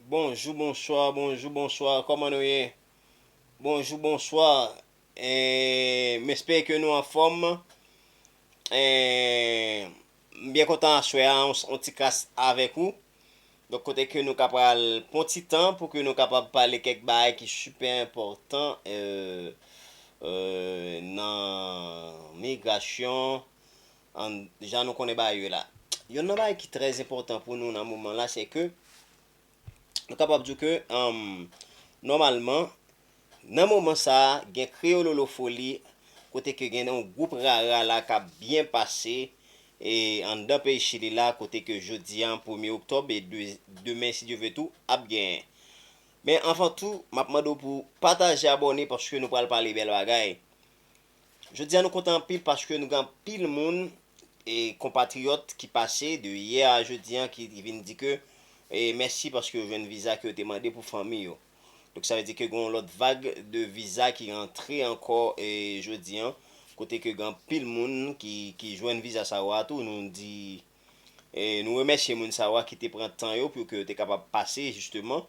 Bonjou bonswa bonjou bonswa kòman nou ye bonjou bonswa m espere ke nou anfòm m byen kontan aswè a yon ti kras avèk ou donk kote ke nou ka pral pran yon ti tan pou ke nou kapab pale kèk bagay ki sipè enpòtan nan migrasyon An, jan nou konnen bagay yo la. Yonn nan bagay ki trè enpòtan pou nou nan moman la se ke nou kapab di w ke nòmalman nan moman sa a gen Kreyololofoli kote ke gen yon gwoup rara la k ap byen pase anndan peyi Chili la kote ke jodi a premye oktòb e demen si Dye ve tou ap gen. Men anvan tou m ap mande w pou w pataje abòne paske nou pral pale bèl bagay. Jodi a nou kontan anpil paske nou gen anpil moun e konpatriyòt ki pase de yè a jodi a ki vin di ke mèsi paske yo jwenn viza ke yo te mande pou fanmi yo. Donk sa vle di ke gen yon lòt vag de viza ki rantre ankò jodi a kote ke gen anpil moun ki jwenn viza sa yo a tou nou di Nou remèsye moun sa yo a ki te pran tan yo pou ke yo te kapab pase jisteman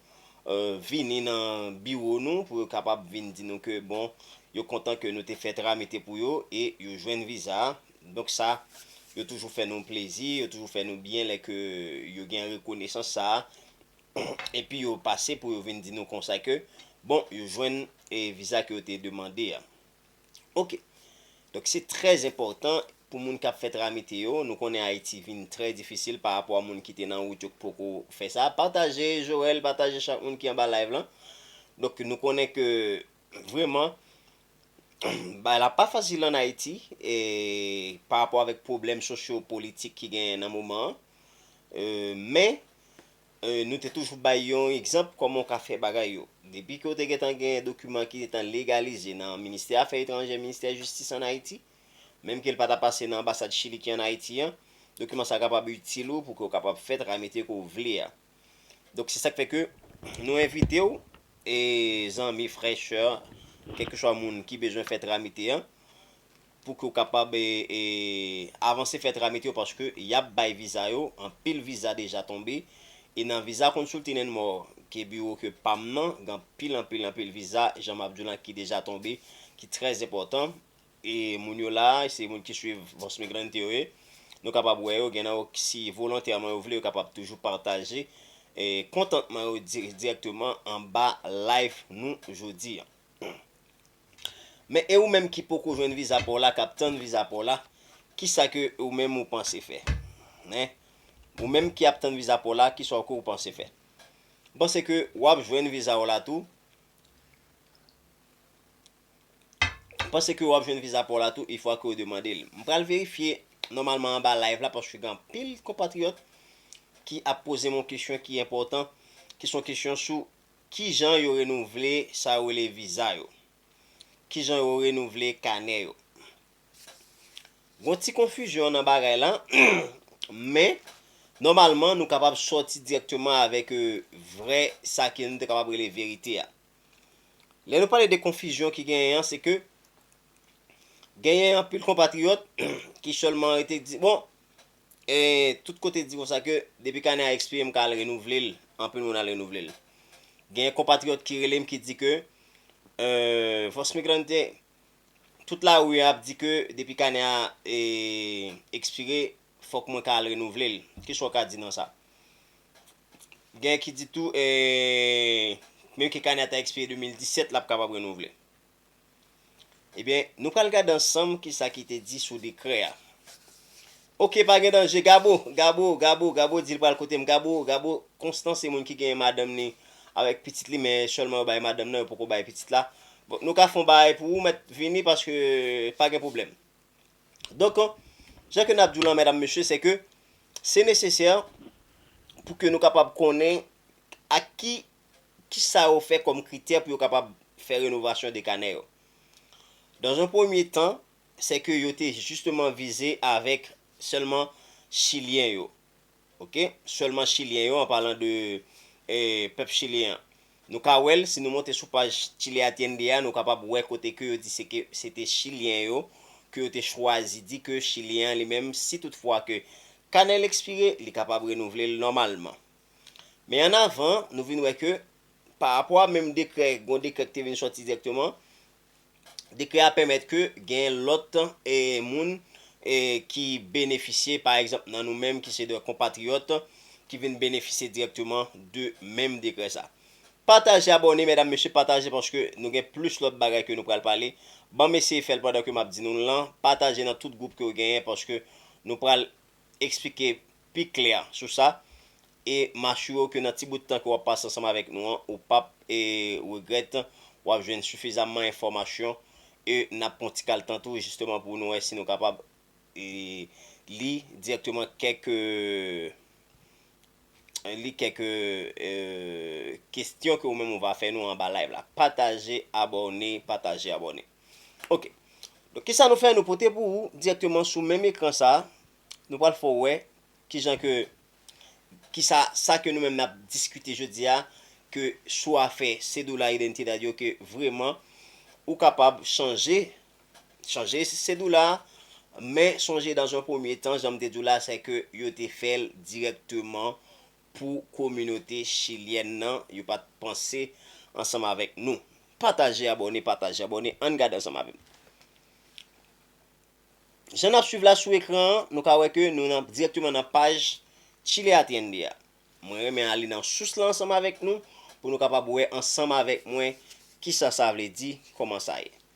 vini nan biwo nou pou yo kapab vin di nou ke bon yo kontan ke nou te fè tramite pou yo e yo jwenn viza a. Donk sa yo toujou fè nou plezi, yo toujou fè nou byen lè ke yo gen rekonesans sa a epi yo pase pou yo vin di nou konsa ke bon yo jwenn viza ke yo te demande a. Ok. Donk se trè enpòtan pou moun k ap fè tramite yo, nou konnen Ayiti vin trè difisil pa rapò a moun ki te nan wout yo k poko fè sa. Pataje Joel, pataje chak moun ki anba live lan. Donk nou konnen ke vreman bagay la pa fasil an Ayiti e pa rapò avèk pwoblèm sosyo politik ki genyen nan moman an. Men Nou te toujou bay yon egzanp kòman w ka fè bagay yo. Depi ke w te gentan gen dokiman ki gentan legalize nan Ministè Afè Etranjè, Ministè Jistis ann Ayiti, menm ke l pa ta pase nan anbasad Chili ki ann Ayiti an, dokiman sa a kapab itil ou pou ke w kapab fè tramite ke w vle a. Donk, se sa k fè ke nou envite w, zanmi, frè, sè, kèlkeswa moun ki bezwen fè tramite an, pou ke w kapab avanse fè tramit yo paske yap bay viza yo, anpil viza deja tonbe e nan viza consulting and more ke biwo ke pam nan gen anpil anpil anpil viza jan map di w lan ki deja tonbe ki trè enpòtan e moun yo la se moun ki swiv Voz Migrante yo ye nou kapab wè yo gen nan yo si volontèman yo vle yo kapab toujou pataje kontantman yo dirèkteman anba live nou jodi an. Men e ou menm ki poko jwenn viza paw la kap tann viza paw la kisa ke ou menm ou panse fè hein ou menm ki ap tann viza paw la kisa ke ou panse fè ou panse ke wap jwenn vizaw la tou ou panse ke wap jwenn viza paw la tou e fwa ke ou te mandel m pral verifye nòmalman anba live la paske gen anpil konpatriyòt ki ap pozem yon kesyon ki enpòtan ki son kesyon sou Kijan yo renouvle sa yo rele viza yo? Kijan yo renouvle kanè yo? Gon ti konfizyon nan bagay la, men nòmalman nou kapab sòti dirèkteman avèk vrè sa ke nou te kapab rele verite a. Lè nou pale de konfizyon ki genyen an se ke genyen anpil konpatriyòt ki sèlman rete di bon Tout kote di konsa ke depi kanè a ekspire m ka al renouvle l, anpil moun al renouvle l. Gen konpatriyòt ki rele m ki di ke Voz Migrante, tout lari a ap di ke depi kanè a ekspire fòk mwen ka al renouvle l. Kisa w ka di nan sa? Gen ki di tou menm ke kanè a ta ekspire 2017 l ap kapab renouvle. Ebyen nou pral gade ansanm kisa ki te di sou dekrè a. Ok pa gen danje Gabo, Gabo, Gabo, Gabo di li pral kote m Gabo, Gabo, Konstan se moun ki genyen madanm ni avèk pitit li men sèlman yo bay madanm nan yo poko bay pitit la. Bon nou ka fon bagay pou ou mèt vini paske pa gen pwoblèm. Donk sa ke nap di w la medam mesye se ke se nesesè pou ke nou kapab konnen ak ki ki sa yo fè kòm kritè pou yo kapab fè renovasyon de kanè yo? Dans un premier temps, c'est que yo te justement vize avèk sèlman chilyen yo. Ok, sèlman chilyen yo an palan de pèp chilyen an. Nou ka wè l si nou monte sou paj Chile Atiende a nou kapab wè kote ke yo di se ke se te chilyen yo ke yo te chwazi di ke chilyen an li menm si tout fwa ke kanè l ekspire li kapab renouvle l nòmalman. Men an avan, nou vin wè ke, pa rapò a menm dekrè, gon dekrè ki te vin sòti dirèkteman, dekrè a pèmèt ke gen lòt moun ki benefisye, pa egzanp nan nou menm ki se de konpatriyòt, ki vin benefisye dirèkteman de menm dekrè sa. Pataje abòne medam mesye pataje paske nou gen plis lòt bagay ke nou pral pale, banm eseye fèl pandan ke map di nou l lan, pataje nan tout gwoup ke ou genyen paske nou pral eksplike pi klè sou sa e m asire w ke nan ti bout tan ke w ap pase ansanm avèk nou an ou p ap regrèt, w ap jwenn sifizamman enfòmasyon e n ap pran ti kal tan tou jisteman pou nou wè si nou kapab li dirèkteman kèk li kèk kestyon ke ou menm ou va fè nou anba live la. Pataje, abòne, pataje, abòne. Ok, donk kisa nou fè nou pote pou ou dirèkteman sou menm ekran sa, nou pral fè w wè kijan ke kisa sa ke nou menm nap diskite jodi a ke sou afè Cedula Identidad yo ke vreman ou kapab chanje chanje Cedula a men sonje dans un premier temps janm te di w la sè ke yo te fè l dirèkteman Pou kominote chilyèn nan yo pat panse ansanm avèk nou pataje abòne pataje abòne ann gade ansanm avèm jan nap swiv la sou ekran an nou ka wè ke nou nan dirèkteman nan paj chile atiende a mwen renmen ale nan sous la ansanm avèk nou pou nou kapab wè ansanm avèk mwen kisa sa vle di kòman sa ye.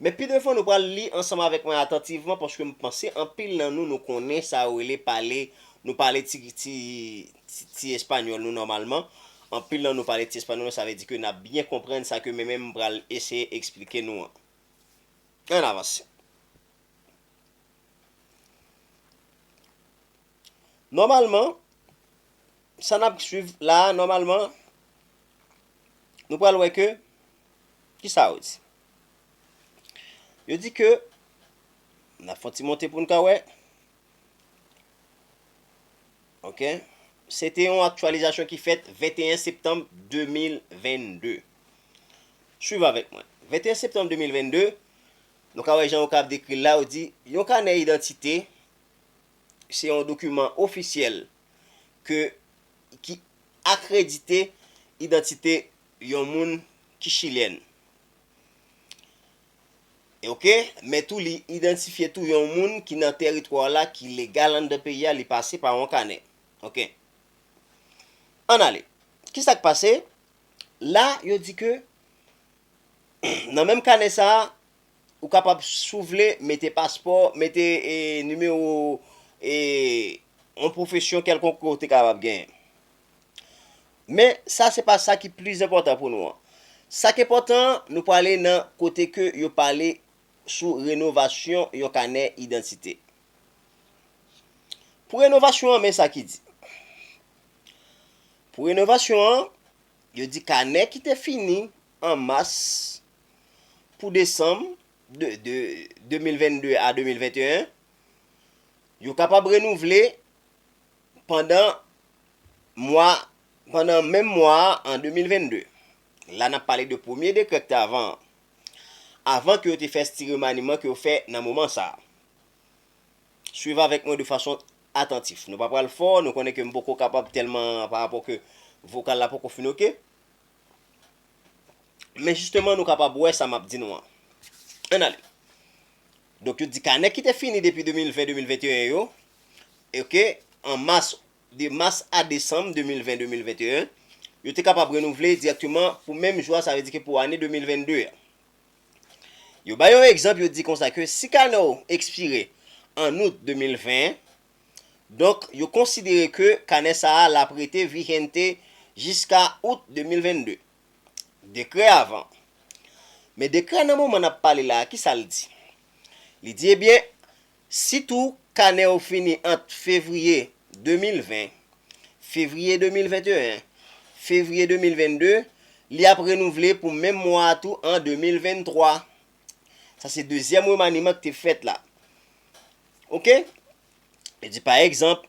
Men pi devan nou pral li ansanm avèk mwen atantivman paske m panse anpil nan nou nou konnen sa yo rele pale, nou pale ti ti ti espanyòl nou nòmalman, anpil nan nou pale ti espanyòl nou sa vle di ke n ap byen konprann sa ke men menm m pral eseye eksplike nou an. Ann avanse. Nòmalman, sa n ap swiv la a nòmalman nou pral wè ke Kisa yo di? Yo di ke, n ap fè yon ti monte pou n ka wè, ok, se te yon aktyalizasyon ki fèt 21 septanm 2022. Swiv avèk mwen. 21 septanm 2022, nou ka wè jan yo ka ap dekri l la, yo di, yon kanè idantite se yon dokiman ofisyèl ke ki akredite idantite yon moun ki chilyèn ok men tou li idantifye tou yon moun ki nan tèritwa w la ki legal anndan peyi a li pase pa yon kanè ok ann ale ki sa k pase la yo di ke nan menm kanè sa a ou kapab si w vle mete paspò mete nimewo yon pwofesyon kèlkonk ke w te kapab genyen. Men, sa se pa sa ki plis enpòtan pou nou an. Sa k enpòtan an, nou prale nan kote ke yo pale sou renovasyon yon kanè idantite. Pou renovasyon an, men sa ki di. Pou renovasyon an, yo di kanè ki te fini an mas pou desanm de 2022 a 2021, yo kapab renouvle Pandan mwa, pandan menm mwa a an 2022, la n ap pale de premye dekrè k te avan an, avan ke yo te fè sti remaniman ke yo fè nan moman sa a. Swiv avèk mwen de fason atantif. Nou pa pral fò, nou konnen ke m poko kapab tèlman parapò ke vokal la poko fin oke. Men jisteman nou kapab wè sa m ap di nou an. Ann ale. Donk yo di kanè ki te fini depi 2020, 2021 yo, ok, an mas, de mas a desanm 2020, 2021, yo te kapab renouvle dirèkteman pou menm jou a, sa vle di ke pou ane 2022 a. Yo bay yon egzanp yo di konsa ke si kanè w ekspire an out 2020, Donk, yo konsidere ke kanè sa a l ap rete vigente jiska Out 2022. Dekrè avan. Men dekrè nan moman n ap pale la a, ki sa l di? Li di ebyen, si tou kanè w fini ant fevriye 2020, fevriye 2021, fevriye 2022, li ap renouvle pou menm mwa a tou an 2023. Sa se dezyèm remaniman ki te fèt la. Ok? Yo di pa egzanp,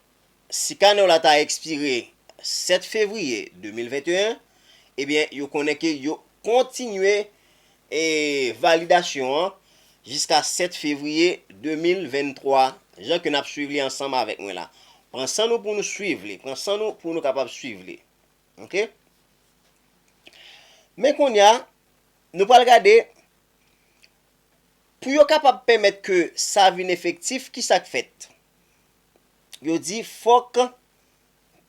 si kanè w la ta ekspire 7 fevriye 2021, ebyen yo konnen ke yo kontinye e validasyon an jiska 7 fevriye 2023, jan ke n ap swiv li ansanm avèk mwen la. Pran san nou pou nou swiv li. Pran san nou pou nou kapab swiv li. Ok? Men kounye a, Nou pral gade, Pou yo kapab pèmèt ke sa vin efektif, ki sa k fèt? Yo di fòk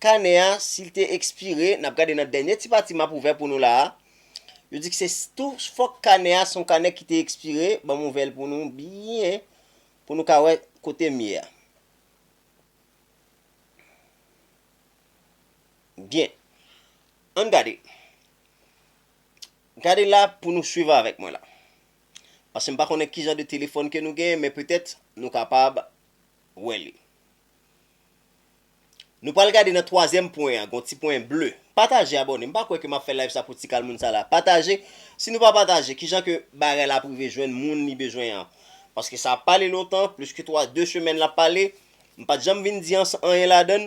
kanè a, si l te ekspire, n ap gade nan dènye ti pati m ap ouvè pou nou la a, yo di se tou fòk kanè a se yon kanè ki te ekspire, ban m ouvè l pou nou byen, pou nou ka wè kote m ye a. Byen, an n gade. Gade la pou nou swiv avèk mwen la. Pase m pa konnen kijan de telefòn ke nou genyen men petèt nou kapab wè li. Nou pral gade nan twazyèm pwen an, gon ti pwen ble. Pataje abòne, m pa kwè ke m ap fè live sa pou ti kal moun sa la. Pataje, si nou pa pataje kijan ke bagay la ap rive jwenn moun li bezwen an. Paske sa ap pale lontan, plis ke 3, 2 semèn l ap pale, m pat janm vin di anyen ladann,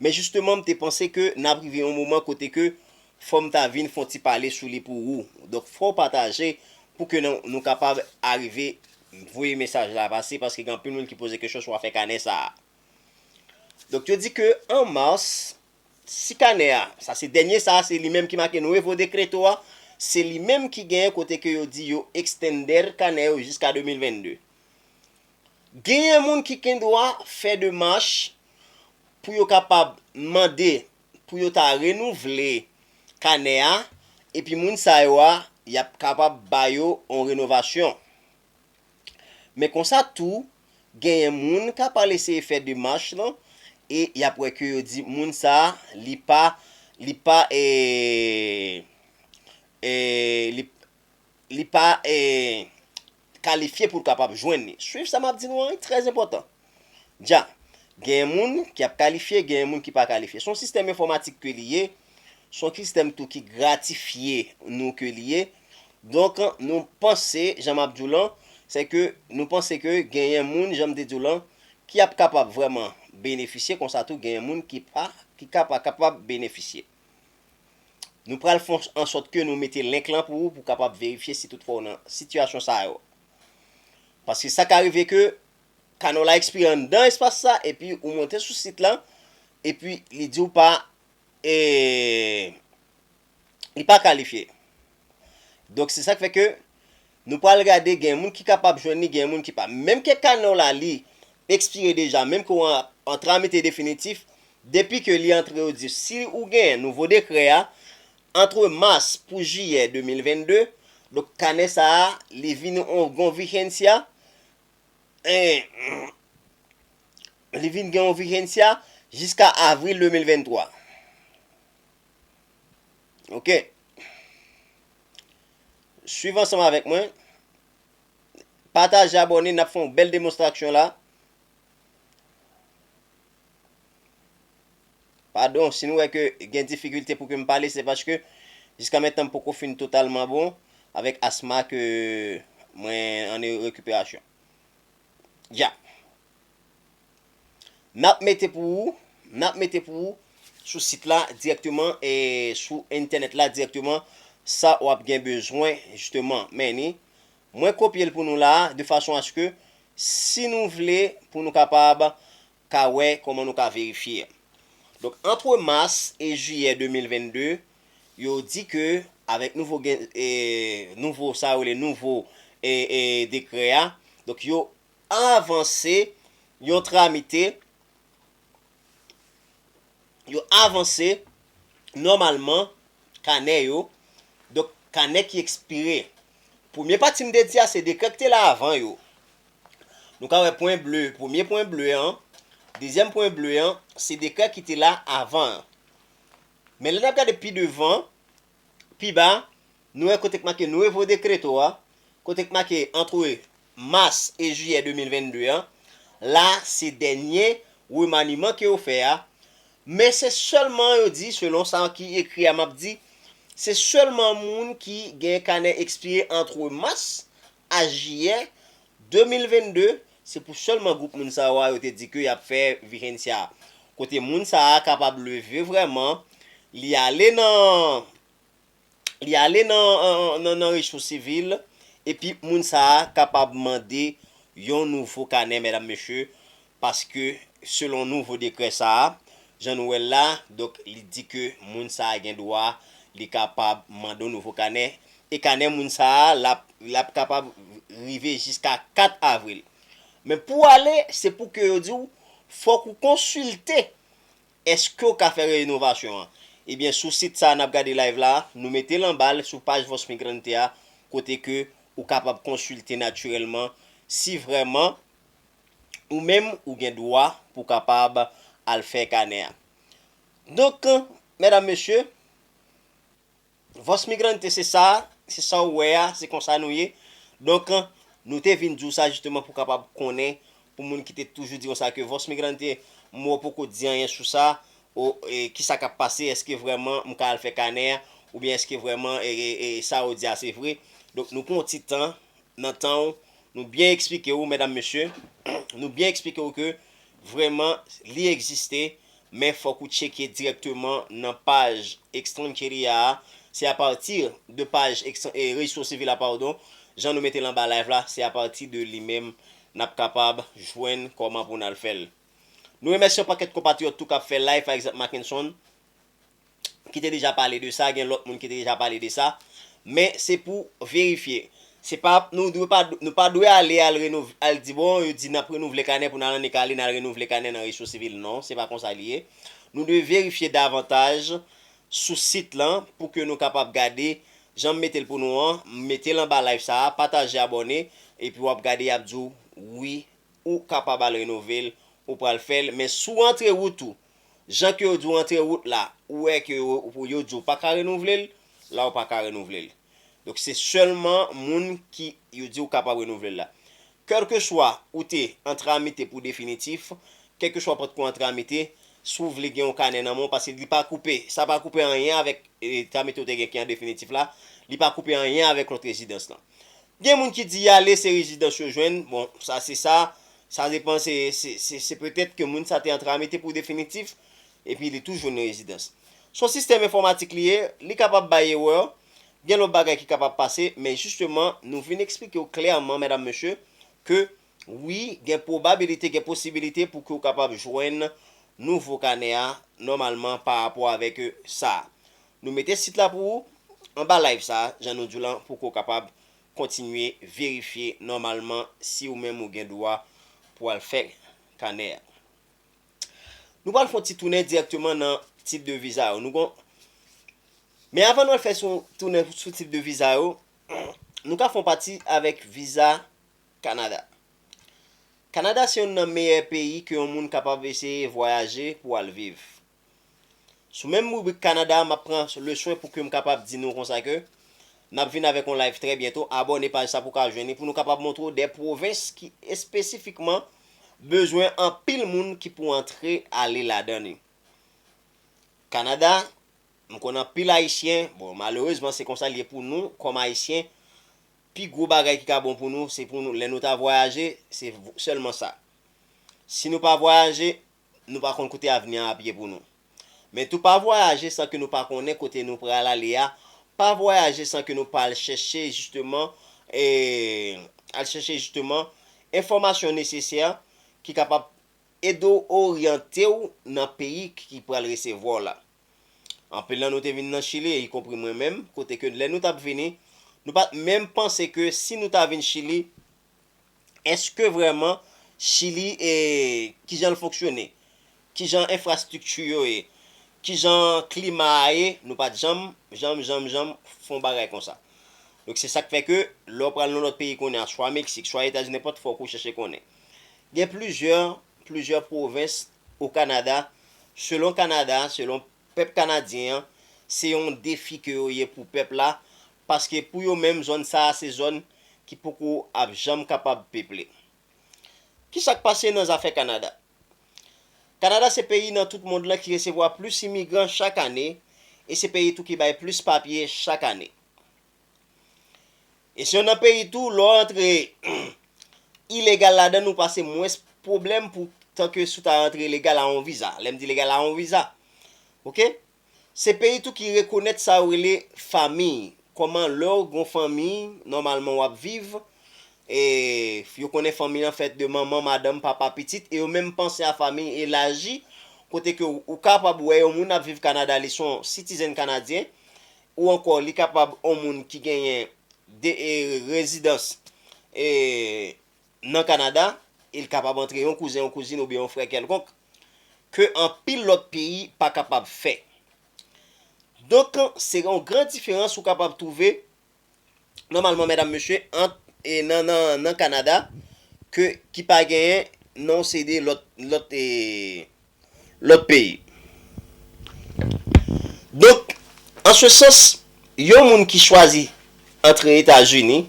men jisteman m te panse ke n ap rive yon moman kote ke Fòm ta vin fon ti pale sou li pou ou donk fòw pataje pou ke nou kapab arive voye mesaj la pase paske gen anpil moun ki poze kesyon sou afè kanè sa a donk yo di ke an mars si kanè a sa se dènye sa a se li menm ki make nuevo decreto a se li menm ki gen kote ke yo di yo extender kanè yo jiska 2022 genyen moun ki gendwa fè demach pou yo kapab mande pou yo ta renouvle kanè a epi moun sa yo a y ap kapab ba yo yon renovasyon. Men konsa tou genyen moun k ap al eseye fè demach lan e y ap wè ke yo di moun sa a li pa li pa ee li pa ee kalifye pou l kapab jwenn li. Swiv sa m ap di nou an wi, trè enpòtan. Dja, Genyen moun ki ap kalifye, genyen moun ki pa kalifye. Se yon sistèm enfòmatik ke li ye, se yon sistèm tou ki gratifye nou ke li ye. Donk, nou panse, jan m ap di w lan, se ke nou panse ke genyen moun, jan m te di w lan, ki ap kapab vrèman benefisye, konsa tou genyen moun ki pa, ki ka pa kapab benefisye. Nou pral fon ansòt ke nou mete link lan pou ou pou kapab verifye si tout fwa ou nan sitiyasyon sa yo. Paske sa ka rive ke kanal la ekspire anndan espas sa epi ou monte sou sit lan epi li di ou pa eee li pa kalifye. Donk se sak fè ke Nou pral gade gen moun ki kapab jwenn li gen moun ki pa. Menm ke kanè w la li ekspire deja menm ke w an tramite definitif depi ke li antre yo di si ou gen nouvo dekrè a antre mas pou jiyè 2022 donk kanè sa a li vin yon gon vigensya li vin gen yon vigensya jiska avril 2023 ok. Swiv ansanm avèk mwen. Pataje abòne nap fè yon bèl demonstraksyon la. Padon si nou wè ke gen difikilte pou ke m pale se paske jiska mentnan m poko fin totalman bon avèk asma ke mwen an rekiperasyon. Ya. Nap mete pou ou, nap mete pou ou sou sit la dirèkteman e sou entènèt la dirèkteman sa wap gen bezwen jisteman. Men ni, mwen kopye l pou nou la de fason aske si nou vle pou nou kapab ka wè kòman nou ka verifye. Donk antre mas e jiyè 2022, yo di ke avèk nouvo gen, nouvo sa yo rele nouvo e e dekrè a, donk yo avanse yon tramite yo avanse nòmalman kanè yo, donk kanè ki ekspire. Premye pati m te di a se dekrè ki te la avan yo. Nou ka wè pwen ble, premye pwen ble an, dezyèm pwen ble an, se dekrè ki te la avan an. Men lè n ap gade pi devan, Pi ba, nou wè kote k make Nuevo Decreto a, kote k make antre mas e jiyè 2022 an, la se dènye remaniman ke yo fè a, men se sèlman yo di, selon sa ki ekri a m ap di, se sèlman moun ki gen kanè ekspire antre mas A Jiyè, 2022, se pou sèlman gwoup moun sa yo a yo te di ke y ap fè Vigencia a. Kote moun sa a kapab leve vrèman, li ale nan, li ale nan, nan recho sivil, epi moun sa a kapab mande yon nouvo kanè, mèdam mesye, Paske selon nouvo dekrè sa a, jan nou wè l la, donk li di ke moun sa a gen dwa, li kapab mande yon nouvo kanè, e kanè moun sa a l ap l ap kapab rive jiska 4 avril. Men pou w ale, se pou ke yo di w fòk ou konsilte èske ou ka fè renovasyon an. Ebyen sou sit sa a n ap gade live la a, nou mete l anba l sou paj Voz Migrante a kote ke ou kapab konsilte natirèlman si vrèman Ou menm ou gen dwa pou kapab al fè kanè a. Donk, medam mesye, Voz Migrante se sa, se sa ou wè a, se konsa nou ye. Donk, nou te vin di w sa jisteman pou kapab konnen, pou moun ki te toujou di nou sa ke Voz Migrante, mwen poko di anyen sou sa, ki sa k ap pase, èske vrèman m ka al fè kanè a, oubyen èske vrèman sa ou di a se vre. Donk, nou pran yon ti tan, nan tan w nou byen eksplike ou medam mesye nou byen eksplike ou ke vreman li egziste men fok ou tcheke direkteman nan paj extranjeria a se apati de paj registro civil a padon jan nou metel anba live la se apati de li menm nap kapab jwenn koman pou nal fel nou remèsye yon pakèt konpatriyòt tou kap fè live pa egzanp Mackenson. ki te deja pale de sa, gen lòt moun ki te deja pale de sa, men se pou verifye. Se pa, nou dwe pa, nou pa dwe ale al renov, al di bon yo di nap renouvle kanè pou nou al annik ale nal renouvle kanè nan rejistro sivil. Non, se pa konsa li ye. Nou dwe verifye davantaj sou sit lan pou ke nou kapab gade jan m mete l pou nou an, m mete l anba live sa a, pataje abòne, epi wap gade yap di w wi ou kapab al renove l, ou pral fè l, men si w antre wout ou Jan ke yo di w antre wout la, ou wè ke yo di w pa ka renouvle l, la ou pa ka renouvle l. Donk se sèlman moun ki yo di ou kapab renouvle l la. Kèlkeswa ou te antre a mete pou definitif, kèlkeswa ou potko antre a mete, si w vle gen yon kanè nan men w, paske li pa koupe, sa pa koupe anyen avèk antre a mete ou te gen ki an definitif la, li pa koupe anyen avèk lòt rezidans lan. Gen moun ki di y ale se rezidans yo jwenn, bon sa se sa, Sa depan se se petèt ke moun sa te antre Amite pou definitif epi li tou jwenn yon rezidans. S on sistèm enfòmatik li ye, li kapab bay erè, gen lòt bagay ki kapab pase, men jisteman nou vin eksplike w klèman medam mesye ke wi gen pwobabilite, gen posibilite pou ke w kapab jwenn nouvo kanè a nòmalman pa rapò avèk sa. Nou mete sit la pou ou anba live sa jan nou di w lan pou ke w kapab Kontinye verifye nòmalman si ou menm ou gen dwa pou al fè kanè a. Nou pral fè yon ti tounen dirèkteman nan tip de viza yo. Nou kon. Men avan nou al fè sou tounen sou tip de viza yo, nou ka fè yon pati avèk viza Kanada. Kanada se yonn nan meyè peyi ke yon moun kapab eseye vwayaje pou al viv. Sou menm ribrik Canada map pran leswen pou kem kapab di nou konsa ke nap vin avek yon live trè byento abòne paj sa pou ka jwenn li pou nou kapab montre w de pwovens ki espesifikman bezwen anpil moun ki pou antre ale ladan li. Canada m konn anpil ayisyen bon malerezman se konsa li ye pou nou kòm ayisyen pi gwo bagay ki ka bon pou nou se pou nou lè nou ta vwayaje se sèlman sa si nou pa vwayaje nou pa konn kote avni an ap ye pou nou. Men tou pa vwayaje san ke nou pa konnen kote nou pral ale a, pa vwayaje san ke nou pa al chèche jisteman e al chèche jisteman enfòmasyon nesesè ki kapab ede w oryante w nan peyi ki pral resevwa w la. Anpil nan nou te vin nan Chili, ikonpri mwen menm, kote ke lè nou t ap vini, nou pa t menm panse ke si nou ta vin Chili, Eske vrèman Chili e kijan l fonksyone? Kijan enfrastrikti yo ye? Kijan klima a ye? Nou pa t janm, janm, janm, janm fè yon bagay konsa. Donk se sa k fè ke lè w pral nan lòt peyi kounye a, swa Meksik, swa Etazini, nenpòt fòk ou chèche konnen. Gen plizyè, plizyè pwovens o Kanada, selon Kanada, selon Pèp Kanadyen an, se yon defi ke yo ye pou pèp la, paske pou yo menm zòn sa a se zòn ki poko ap janm kapab peple. Ki sa k pase nan zafè Kanada? Kanada se peyi nan tout mond lan ki resevwa plis imigran chak ane e se peyi tou ki bay plis papye chak ane. E si yo nan peyi tou, lè w antre ilegal ladan l ou pase mwens pwoblèm pou tan ke si w ta antre legal a yon viza. Lè m di legal a yon viza. Ok? Se peyi tou ki rekonèt sa yo rele famiy. Kòman lè w gen yon famiy, nòmalman w ap viv, e yo konnen famiy lan fèt de manman, madanm, papa, pitit, e yo menm panse a famiy elaji, kote ke ou kapab wè yon moun ap viv Kanada li se yon sitizenn kanadyen, ou ankò li kapab on moun ki genyen de rezidans e nan Kanada e li kapab antre yon kouzen, yon kouzin oubyen yon frè kèlkonk ke anpil lòt peyi pa kapab fè. Donk se yon gran diferans ou kapab twouve nòmalman mèdam mesye ant e nan nan nan Kanada ke ki pa genyen non se de lòt lòt e lòt peyi. Donk an se sans yon moun ki chwazi antre Etazini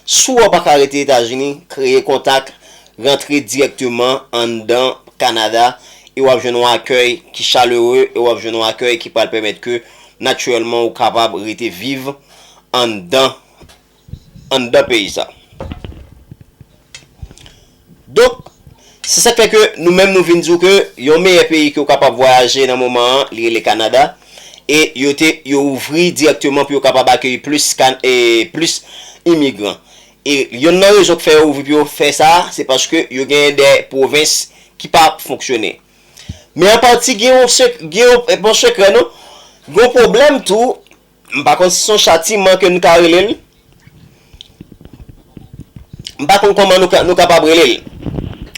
si wè w pa ka rete Etazini kreye kontak rantre dirèkteman anndan Kanada e w ap jwenn yon akèy ki chalere e w ap jwenn yon akèy ki pral pèmèt ke natirèlman ou kapab rete viv anndan anndan peyi sa. Donk, se sa k fè ke nou menm nou vin di w ke yon meyè peyi ke w kapab vwayaje nan moman an, li rele Kanada, e yo te, yo ouvri dirèkteman pou yo kapab akeyi plis kan, e plis imigran. E yonn nan rezon k fè yo ouvri pou yo fè sa, se paske yo genyen de pwovens ki pa fonksyone. Men an pati gen yon sek, gen yon, bon sekrè non, gen yon pwoblèm tou M pa konn si son chatiman ke n ka rele l. M pa konn kòman nou kapab rele l.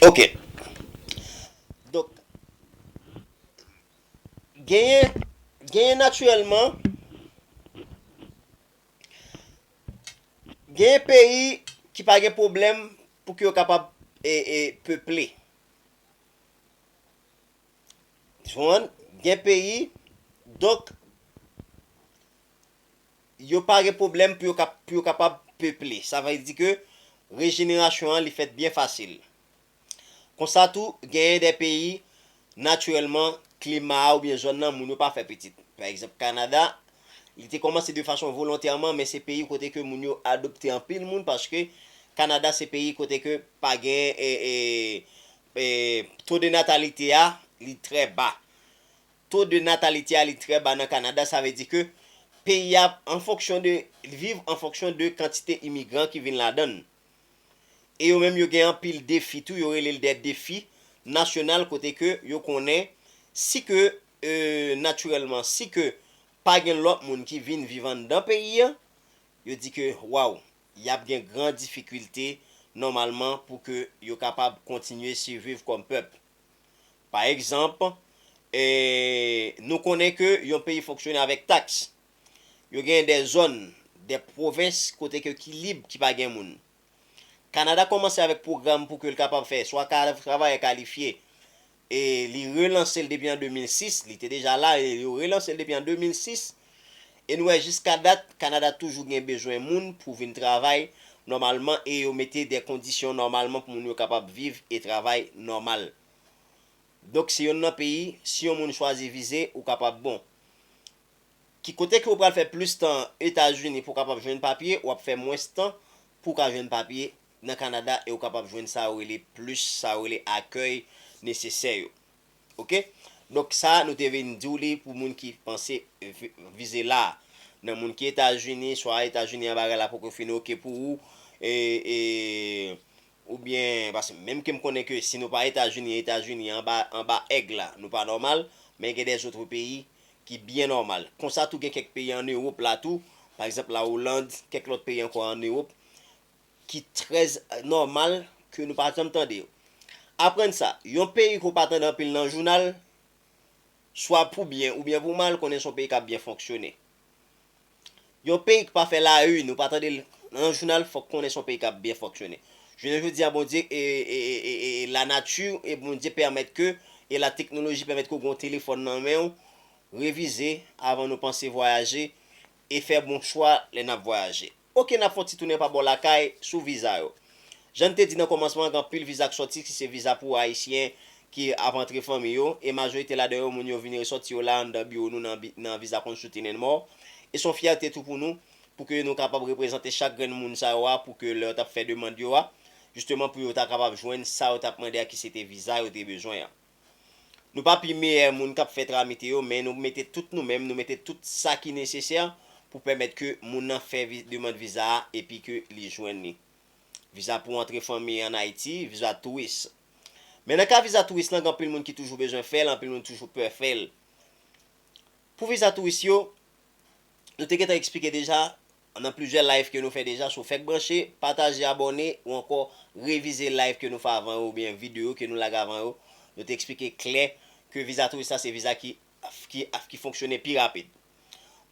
Ok. Donk, genyen, genyen natirèlman, genyen peyi ki pa gen pwoblèm pou ke yo kapab e, e, peple. Jwenn, gen peyi, donk yo pa gen pwoblèm pou yo kapab peple. Sa vle di ke rejenerasyon an li fèt byen fasil. Konsa tou, genyen de peyi, natirèlman, klima a oubyen zòn nan, moun yo pa fè pitit. Pa egzanp, Kanada, li te kòmanse de fason volontèman, men se peyi kote ke moun yo adopte anpil moun paske Kanada se peyi kote ke pa gen Taux de natalité a li trè ba. Taux de natalité a li trè ba nan Kanada sa vle di ke peyi a an fonksyon de li viv an fonksyon de kantite imigran ki vin ladan l. E yo menm yo gen anpil defi tou yo rele l dè defi nasyonal kote ke yo konnen si ke natirèlman si ke pa gen lòt moun ki vin viv anndan peyi an yo di ke waw y ap gen gran difikilte nòmalman pou ke yo kapab kontinye siviv kòm pèp. Pa egzanp, nou konnen ke yon peyi fonksyone avèk taks. Yo genyen de zòn, de pwovens kote ke ki lib, ki pa gen moun. Kanada kòmanse avèk pwogram pou ke l kapab fè swa travayè kalifye E li relanse l depi an 2006, li te deja la e yo relanse l depi an 2006. E nou wè jiska dat Kanada toujou gen bezwen moun pou vin travay nòmalman e yo mete de kondisyon nòmalman pou moun yo kapab viv e travay nòmal. Donk se yonn nan peyi si yon moun chwazi vize ou kapab bon. Ki kote ke ou pral fè plis tan Etazini pou w kapab jwenn papye, w ap fè mwens tan pou w ka jwenn papye nan Kanada e ou kapab jwenn sa yo rele plis sa yo rele akèy nesesè yo. Ok. Donk sa nou te vin di w li pou moun ki panse vize la a. Nan moun ki Etazini, swa Etazini an bagay la poko fin ok pou ou e e oubyen paske menm ke m konnen ke si nou pa Etazini, Etazini an anba anba èg la nou pa nòmal men gen de zotre peyi ki byen nòmal. Konsa tou gen kèk peyi an Ewop la tou pa egzanp la Oland, kèk lòt peyi ankò an Ewop ki trè nòmal ke nou pa janm tande yo. Aprann sa, yon peyi ke w pa tande anpil nan jounal, swa pou byen oubyen pou mal, konnen se yon peyi k ap byen fonksyone. Yon peyi ki pa fè la une, ou pa tande l nan jounal, fòk konnen se yon peyi k ap byen fonksyone. Jounen jodi a Bondye e la nati e Bondye pèmèt ke e la teknoloji pèmèt ke w gen yon telefòn nan men w, revize avan nou panse vwayaje e fè bon chwa lè n ap vwayaje. Ok n ap fè yon ti tounen pa bò lakay sou viza yo. Jan n te di nan kòmansman an gen anpil viza k sòti ki se viza pou Ayisyen ki ap antre fanmi yo e majorite ladan yo moun yo vini resòti yo la anndan biwo nou nan Visa Consulting and More e s on fyète tou pou nou pou ke nou kapab reprezante chak grenn moun sa yo a pou ke lè yo t ap fè demand yo a jisteman pou yo ta kapab jwenn sa yo t ap mande a ki se te viza yo te bezwen an. Nou pa pi meyè moun kap fè tramite yo men nou mete tout nou menm nou mete tout sa ki nesesè pou pèmèt ke moun nan fè demand viza a epi ke li jwenn li. Viza pou antre fanmi an Ayiti, viza touris. Men nan ka viza touris lan gen anpil moun ki toujou bezwen fè l, anpil moun toujou pè fè l. Pou viza touris yo, nou te gentan eksplike deja, Nan plizyè live ke nou fè deja so fèk branche, pataje abòne ou ankò revize live ke nou fè avan yo oubyen videyo ke nou lage avan yo, nou te eksplike klè ke viza touris la se viza ki ki fonksyone pi rapid.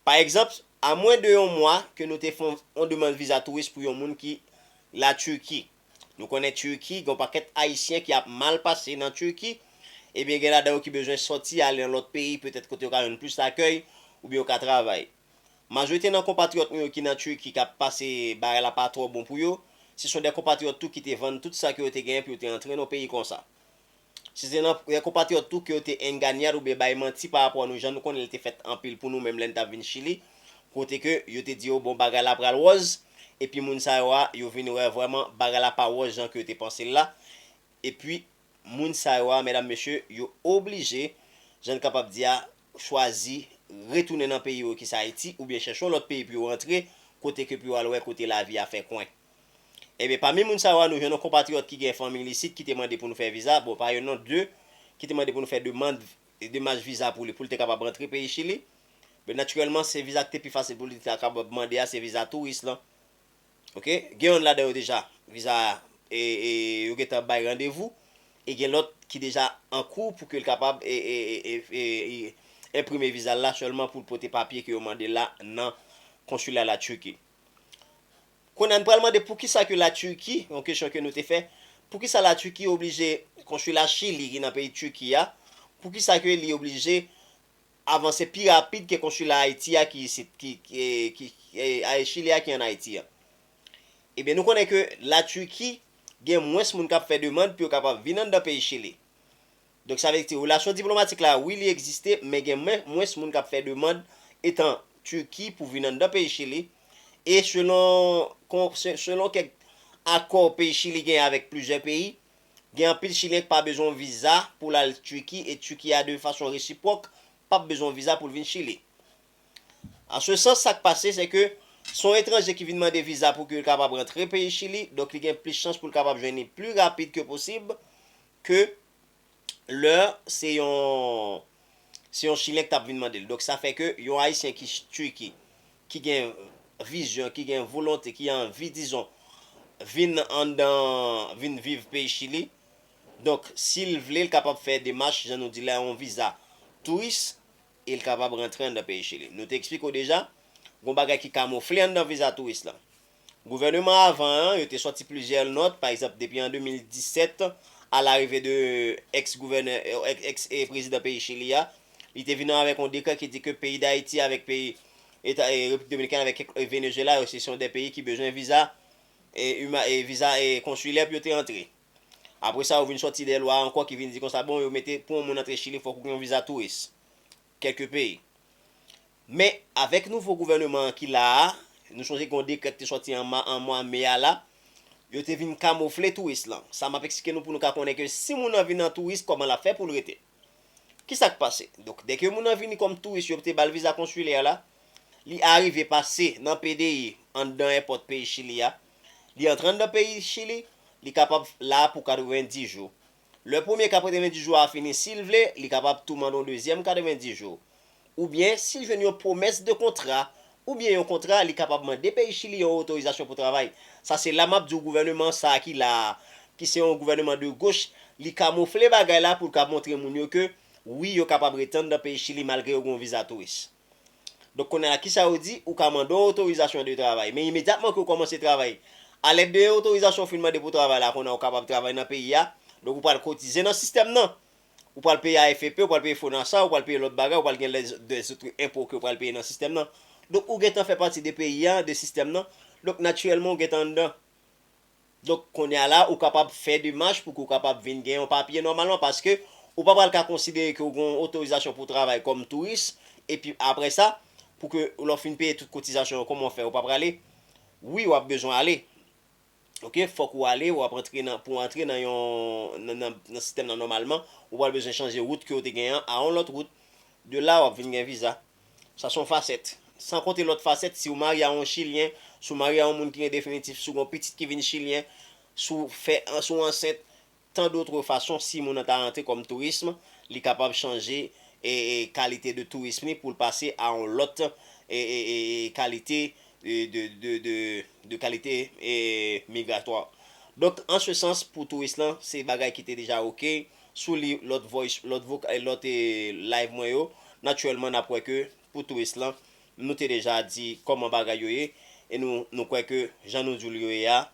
Pa egzanp, a mwen de yon mwa ke nou te fè yon demand viza touris pou yon moun ki la Turquie. Nou konnen Turquie gen yon pakèt ayisyen ki ap mal pase nan Turquie, ebyen gen ladan yo ki bezwen sòti ale nan lòt peyi petèt kote yo ka jwenn plis akèy oubyen yo ka travay. Majorite nan konpatriyòt nou yo ki nan Turquie kap pase bagay la pa twò bon pou yo, se son dè konpatriyòt tou ki te vann tout sa ke yo te genyen pou yo te antre nan peyi konsa. Se te nan dè konpatriyòt tou ke yo te enganyan oubyen bay manti pa rapò a nou jan nou konnen li te fèt anpil pou nou menm lè n tap vin Chili kote ke yo te di yo bon bagay la pral wòz epi moun sa yo a yo vin wè vrèman bagay la pa wòz jan ke yo te panse l la epi moun sa yo a medam mesye yo oblije jan n kapab di a chwazi retounen nan peyi yo ki se Ayiti oubyen chèche yon lòt peyi pou yo rantre kote ke pou yo al wè kote lavi a fè kwen. Ebyen pami moun sa yo a nou jwenn yon konpatriyòt ki gen fanmi l isit ki te mande pou nou fè viza, bon pa youn non 2 ki te mande pou nou fè demand demach viza pou li pou l te kapab rantre peyi Chili. Natirèlman se viza ki te pi fasil pou li te kapab mande a se viza touris lan. ok gen yonn ladan yo deja viza yo gentan bay randevou e gen lòt ki deja ankou pou ke l kapab enprime viza l la sèlman pou l pote papye ke yo mande l la nan konsila la Turquie kounye a n pral mande poukisa ke la Turquie yon kesyon ke nou te fè poukisa la Turquie oblije konsila chili ki nan peyi Turquie a poukisa ke li oblije. avanse pi rapid ke konsila Ayiti a ki isit, ki, ki, ay, Chili a ki an Ayiti an. Ebyen nou konnen ke La Turki gen mwens moun kap fè demand pou yo kapab vin anndan peyi Chili. Donk sa vle di relasyon diplomatik la wi li egziste men gen mwens moun kap fè demand etan Turki pou vin anndan peyi Chili e selon, selon kèk akò peyi Chili genyen avèk plizyè peyi Gen anpil chilyen k pa bezwen yon viza pou l al Turquie e Turquie a de fason resipwok pap bezwen yon viza pou l vin Chili. An se sans sak pase se ke se yon etranje ki vin mande viza pou ke l kapab rantre peyi Chili donk li gen plis chans pou l kapab jwenn li pli rapid ke posib ke lè se yon se yon chilyen k tap vin mande l. Donk sa fè ke yon ayisyen ki Turquie ki gen vizyon, ki gen volonte, ki anvi dizon vin anndan vin viv peyi Chili. Donk si l vle l kapab fè demach jan nou di la yon viza touris e l kapab rantre anndan peyi Chili. Nou te eksplike w deja gon bagay ki kamofle anndan viza touris lan. Gouvèneman avan an yo te sòti plizyè nòt, pa egzanp depi an 2017 a larive de ex gouvènè, ex prezidan peyi Chili a, li te vini avèk yon dekrè ki di ke peyi Dayiti avèk peyi eta Repiblik Dominikèn avèk kèk Venezuela yo se son 2 peyi ki bezwen viza uma viza konsilè pou yo te antre. Apre sa yo vin sòti 2 lwa ankò ki vin di konsa bon yo mete pou yon moun antre Chili fòk ou gen yon viza touris. kèlke peyi. Men, avèk nouvo gouvèneman an ki la a, nou sonje gen yon dekrè ki te sòti an ma, an mwa me a la, yo te vin kamofle touris lan. Sa m ap eksplike nou pou nou ka konnen ke si moun lan vin an touris, kòman l ap fè pou l rete. Ki sa k pase? Donk, dè ke moun lan vini kòm touris, yo te ba l viza konsilè la, li arive pase nan PDI, anndan èpòt peyi Chili a, li antre anndan peyi Chili, li kapab la pou 90 jou. Lè premye 90 jou a fini, si l vle, li kapab tou mande yon dezyèm 90 jou. Oubyen, si l jwenn yon pwomès de kontra, oubyen yon kontra, li kapab mande peyi Chili yon otorizasyon pou travay. Sa se la m ap di w gouvèneman sa a ki la a, ki se yon gouvèneman de goch, li kamoufle bagay la pou l ka montre moun yo ke, wi, yo kapab ret anndan peyi Chili malgre yo gen yon viza touris. Donk kounye a kisa yo di, ou ka mande yon otorizasyon de travay, men imedyatman ke ou kòmanse travay, alèd de otorizasyon ou fin mande pou travay la, kounye a ou kapab travay nan peyi a, donk ou pral kotize nan sistèm nan, ou pral peye AFP, ou pral peye FONASA, ou pral peye lòt bagay, ou pral gen de zoutre enpo ke ou pral peye nan sistèm nan. Donk ou gentan fè pati de peyi a, de sistèm nan, donk natirèlman ou gentan anndan. Donk kounye a la ou kapab fè demach pou ke w kapab vin gen yon papye nòmalman paske ou pa pral ka konsidere ke w gen yon otorizasyon pou w travay kòm touris epi apre sa pou ke lè w fin peye tout kotizasyon yo kòman w fè ou pa prale? Wi w ap bezwen ale ok fòk ou ale w ap antre nan pou w antre nan yon nan sistèm nan nòmalman ou pral bezwen chanje wout ke w te gen an a yon lòt wout de la w ap vin gen viza. Sa son fasèt. San konte lòt fasèt si ou marye a yon chilyen, si ou marye a yon moun ki gen definitif, si ou gen yon pitit ki vin chilyen, si ou fè si ou ansent, tan dotre fason si moun nan ta rantre kòm tourism, li kapab chanje e e kalite de tourism li pou l pase a yon lòt e e e e kalite e de de de de kalite e e migratwa. Donk an se sans pou touris lan se bagay ki te deja ok. sou li lòt voice lòt voc e lòt e live mwen yo naturellement nap wè ke pou touris lan nou te deja di kòman bagay yo ye e nou nou kwè ke jan nou diw li yo ye a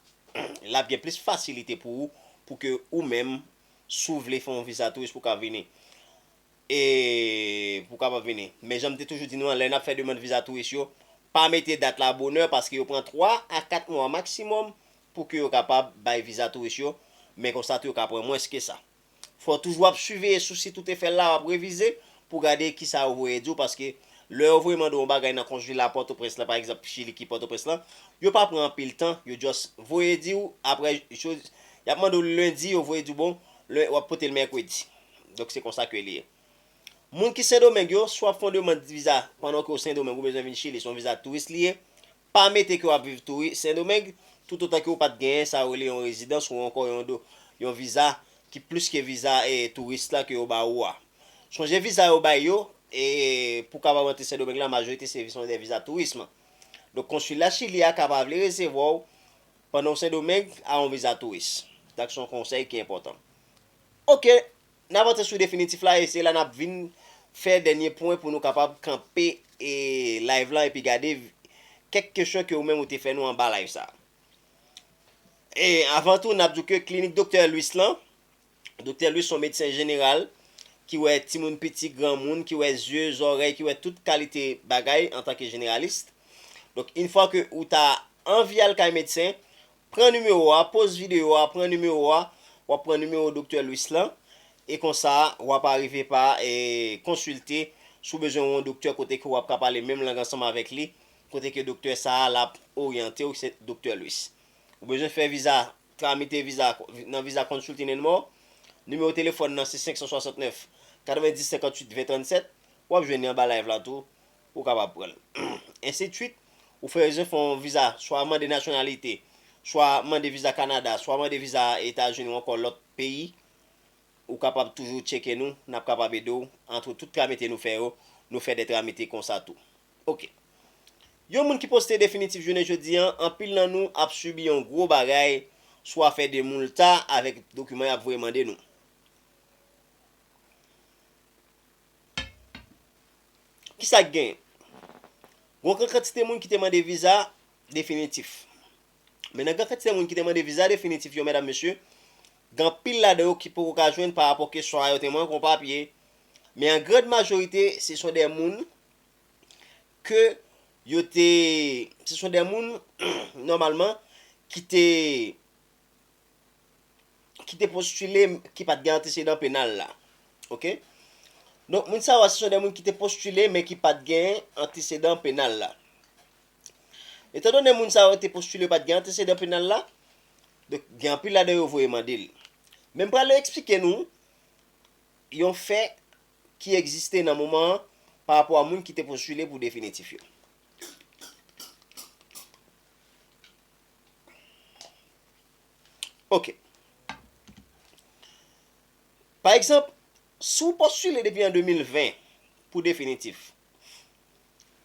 lap gen plis fasilite pou ou pou ke ou menm si w vle fè yon viza touris pou ka vini e pou kapab vini men janm te toujou di nou an lè nap fè demand viza touris yo pa mete dat la bonè paske yo pran 3 a 4 mwa maximum pou ke yo kapab bay viza touris yo, men konsa tou yo ka pran mwens ke sa. Fò toujou ap siveye sou sit ou te fè l la, wap revize pou gade kisa yo voye di w paske lè yo voye mande w yon bagay nan konjila Pòtoprens la pa egzanp chili ki Pòtoprens la, yo pa pran anpil tan, yo just voye di w aprè jou yap mande w lendi yo voye di w bon lè wap pote l mèkredi. Donk se konsa ke li ye. Moun ki Sendomeng yo, si wap fè yon demand viza pandan ke w Sendomeng ou bezwen vin chili se yon viza touris li ye, Pa mete ke w ap viv tou wi Sendomeng, toutotan ke w pa t genyen sa yo rele yon rezidans ou ankò yon do, yon viza ki plis ke viza touris la ke yo ba ou a. Sonje viza yo bay yo pou kapab antre Sendomeng la majorite se son dè viza tourism. Donk konsila Chili a ka pa vle resevwa w pandan w Sendomeng a yon viza touris. Sa k son konsèy ki enpòtan. Ok! N ap antre sou definitif la e se la n ap vin fè dènye pwen pou nou kapab kanpe live lan epi gade kèk kesyon ke ou menm ou te fè nou anba live sa. E avan tou n ap di w ke klinik Doktè Louis lan, Doktè Louis se yon medsen jeneral ki wè timoun piti, granmoun, ki wè zye, zòrèy, ki wè tout kalite bagay antanke jeneralist. Donk in fwa ke ou ta anvi al kay medsen, Pran nimewo a, poz videyo a, pran nimewo a, wap pran nimewo Doktè Louis lan, e konsa wap arive pa konsilte si w bezwen yon doktè kote ke wap ka pale menm lang ansanm avèk li, kote ke doktè sa a lap oryante w, se Doktè Louis. Ou bezwen fè viza, tramite viza nan Visa Consulting and More, nimewo telefòn nan se 569 90 58 20 37, wap jwenn li anba live la tou. Ou kapab pran l. Ensidswit, ou fè rezon fè yon viza, swa mande nasyonalite, swa mande viza Kanada, swa mande viza Etazini ou ankò lòt peyi, ou kapab toujou tcheke nou, n ap kapab ede w, antre tout tramite nou fè yo, nou fè de tramite konsa tou. Ok. Yon moun ki poste definitif jounen jodi an, anpil nan nou ap sibi yon gwo bagay, swa fè de moulta avèk dokiman y ap voye mande nou. Ki sa k genyen? Gon gran kantite moun ki te mande viza definitif. Men nan gran kantite moun ki te mande viza definitif yo medam mesye, gen anpil ladan yo ki poko ka jwenn pa rapò ke swa yo te mank yon papye, men an grand majorite se son de moun ke yo te, se son de moun nòmalman ki te ki te postile ki pat gen antesedan penal la ok donk moun sa yo se yon de moun ki te postile men ki pat gen antesedan penal la etan donnen moun sa yo te postile pat gen antesedan penal la donk gen anpil ladan yo voye mande l men m prale eksplike nou yon fè ki egziste nan moman an pa rapò a moun ki te postile pou definitif yo. Ok. Pa egzanp, si w postile depi an 2020 pou definitif,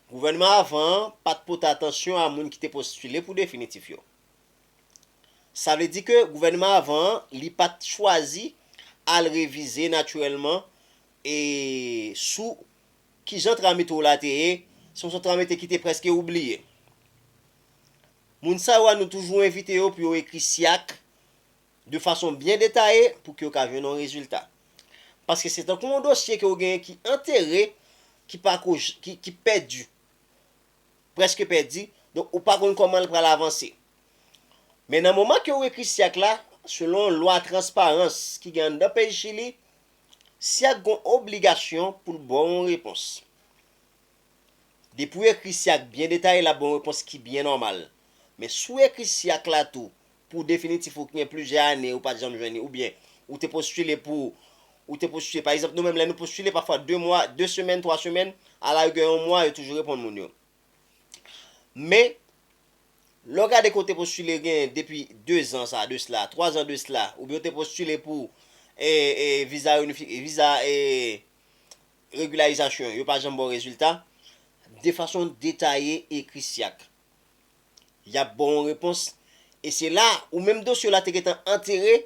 gouvènman avan an pa t pote atansyon a moun ki te postile pou definitif yo. Sa vle di ke gouvènman avan an li pa t chwazi al revize natirèlman e sou Ki jan tram metwo la te ye? Se yon sòt tram ete ki te prèske oubliye. Moun sa yo a nou toujou envite yo pou yo ekri SIAC de fason byen detaye pou ke yo ka jwenn yon rezilta. Paske se tankou yon dosye ke ou genyen ki antere, ki pa ko, ki pèdi. Prèske pèdi, donk ou pa konn kòman l pral avanse. Men nan moman ke ou ekri SIAC la, selon lwa transparans ki gen anndan peyi Chili, Syag gon obligasyon poul baw yon repons. Depiw ekri Syag byen detaye lap baw yon repons ki byen nòmal. Men si w ekri Syak la tou pou definitif ou ki gen plizyè ane ou pat janm jwenn li oubyen ou te postile pou ou te postile pa egzanp nou menm lè nou postile pafwa 2 mwa 2 semèn 3 semèn a la rigè yon mwa yo toujou reponn moun yo. Men, lè w gade ke w te postile gen depi 2 zan sa de sla, 3 zan de sla, oubyen w te postile pou viza regilarizasyon, yo pa janm ba w rezilta, de fason detaye ekri syak. Y ap ba w yon repons, e se la, ou menm dosye w la te gentan antere,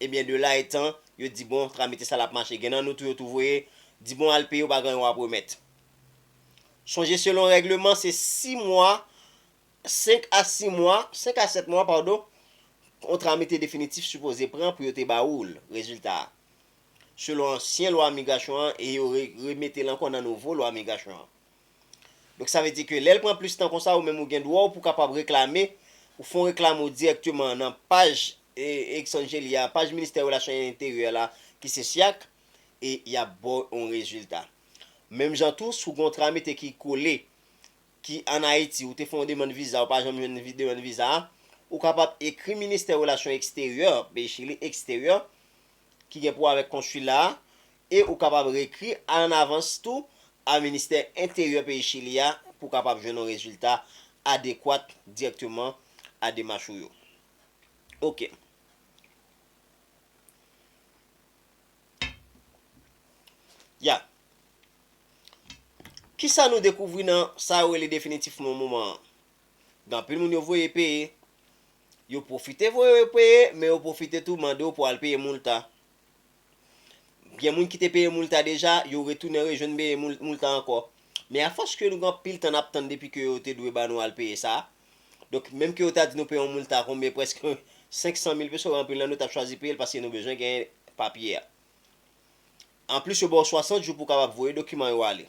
Ebyen de la etan yo di bon tramite sa lap mache gen nan nou tou yo tou voye di bon al peye ou pa gen anyen wap remèt. Sonje selon règleman se 6 mwa 5 a 6 mwa 5 a 7 mwa padon yon tramite definitif sipoze pran pou yo te ba oul rezilta a selon ansyen lwa migrasyon an e yo re remetel ankò nan nouvo lwa migrasyon an. Donk sa vle di ke lè l pran plis tan konsa ou menm ou gen dwa w pou kapab reklame, ou fè yon reklame ou dirèkteman nan paj Exangeli a, paj Ministè Relasyon Enteryè la ki se SYAC e y ap ba w yon rezilta. Menm jan tou si w gen yon tramite ki kole ki an Ayiti ou te fè yon demann viza ou pa janm jwenn demann viza a, ou kapab ekri Ministè Relasyon Eksteryè, peyi Chili, Eksteryè, ki gen pou wè avèk konsila a e ou kapab reekri an avans tou a ministè enteryè peyi Chili a pou w kapab jwenn yon rezilta adekwat dirèkteman a demach ou yo. Ok. Ya. Kisa nou dekouvri nan sa yo rele definitifman moman an? Gen anpil moun yo voye peye Yo pwofite voye yo peye, men yo pwofite tou mande w pou al peye moulta. Gen moun ki te peye moulta deja, yo retounen rejwenn beye moulta ankò. Men afòs ke nou gen anpil tan nap tann depi ke yo te dwe ba nou al peye sa, donk menm ke yo ta di nou peye yon moulta konbyen prèske 500 mil peso, anpil nan nou tap chwazi peye l paske nou bezwen genyen papye a. Anplis yo ba w 60 jou pou w kapab voye dokiman yo ale.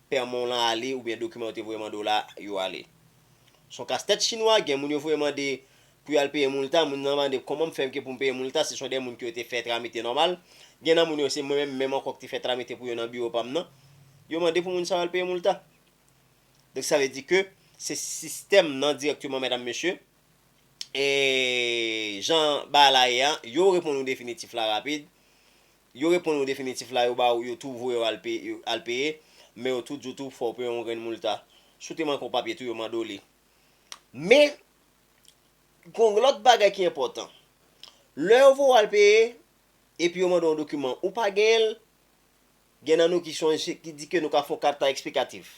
pèman w lan ale oubyen dokiman yo te voye mande w la yo ale. S on kas tèt chinwa, gen moun yo voye mande pou yo al peye multa, moun nan mande kòman m fè ke pou m peye multa si s on dè moun ke yo te fè tramite nòmal, gen nan moun yo se mwen menm menm ankò ki te fè tramite pou yo nan biwo pa m nan, yo mande pou moun sa yo al peye multa. Donk sa vle di ke se sistèm nan dirèkteman medam mesye, e jan bagay la ye a, yo reponn ou definitif la rapid, Yo reponn ou definitif la yo ba ou yo tou voye w al peye men yo tou di w tou fò w peye yon grenn multa. Si w te manke yon papye tou yo mande w li. Men gen yon lòt bagay ki enpòtan. Lè yo voye w al peye epi yo mande w yon dokiman ou pa genyen l, gen nan nou ki sonje ki di ke nou ka fè yon kata eksplikatif.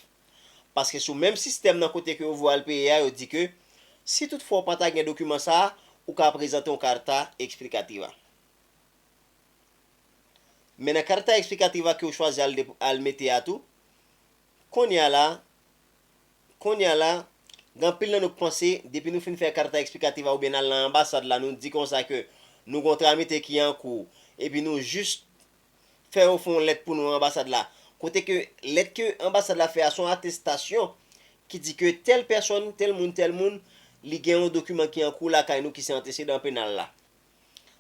Paske sou menm sistèm nan kote ke yo voye w al peye a yo di ke si tout fwa ou pa ta gen dokiman sa a ou ka prezante yon kata eksplikativa. Men nan carta explicativa ke ou chwazi al de al mete a tou, kounye a la, kounye a la, gen anpil nan nou k panse depi nou fin fè carta explicativa oubyen n al nan anbasad la nou di konsa ke nou gen yon tramite ki an kou epi nou jis fè yo fè yon lèt pou nou anbasad la kote ke lèt ke anbasad la fè a se yon atestasyon ki di ke tèl pèsòn, tèl moun, tèl moun li gen yon dokiman ki an kou lakay nou ki se antesedan penal la.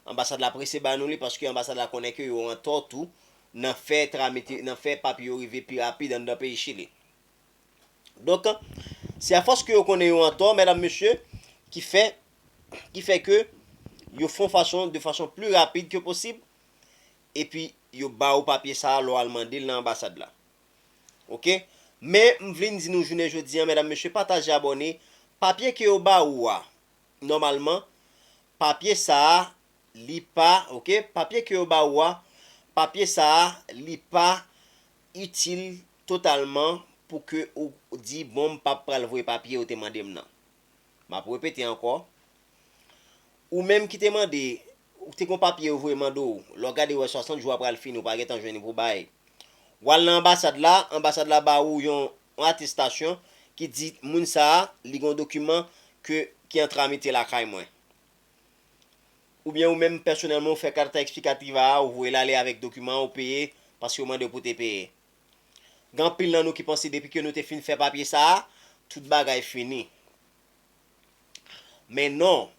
Anbasad la prese ba nou li paske anbasad la konnen ke yo antò tou nan fè tramite, nan fè papye yo rive pi rapid anndan peyi Chili. Donk, se afòs ke yo konnen yo antò, medam, mesye, ki fè, ki fè ke yo fon fason, de fason pli rapid ke posib, epi yo ba ou papye sa a lè w al mande l nan anbasad la. Ok? Men, m vlin di nou jounen jodi an, medam, mesye, pataje, abòne, papye ke yo ba ou a, nòmalman papye sa a li pa ok papye ke yo ba ou a papye sa a li pa itil totalman pou ke ou di bon m pap pral voye papye ou te mande m nan m ap repete ankò ou menm ki te mande ou te gon papye yo voye mande ou lè w gade ou wè 60 jou a pral fini ou pa gentan jwenn ni pou bay w al nan anbasad la anbasad la ba ou yon yon atestasyon ki di moun sa a li gen yon dokiman ke ki an tramite lakay mwen. Oubyen ou menm pèsonèlman ou fè carta explicativa a ou voye l ale avèk dokiman an ou peye paske yo mande w pou te peye. Gen anpil nan nou ki panse depi ke nou te fin fè papye sa a tout bagay fini. Men non,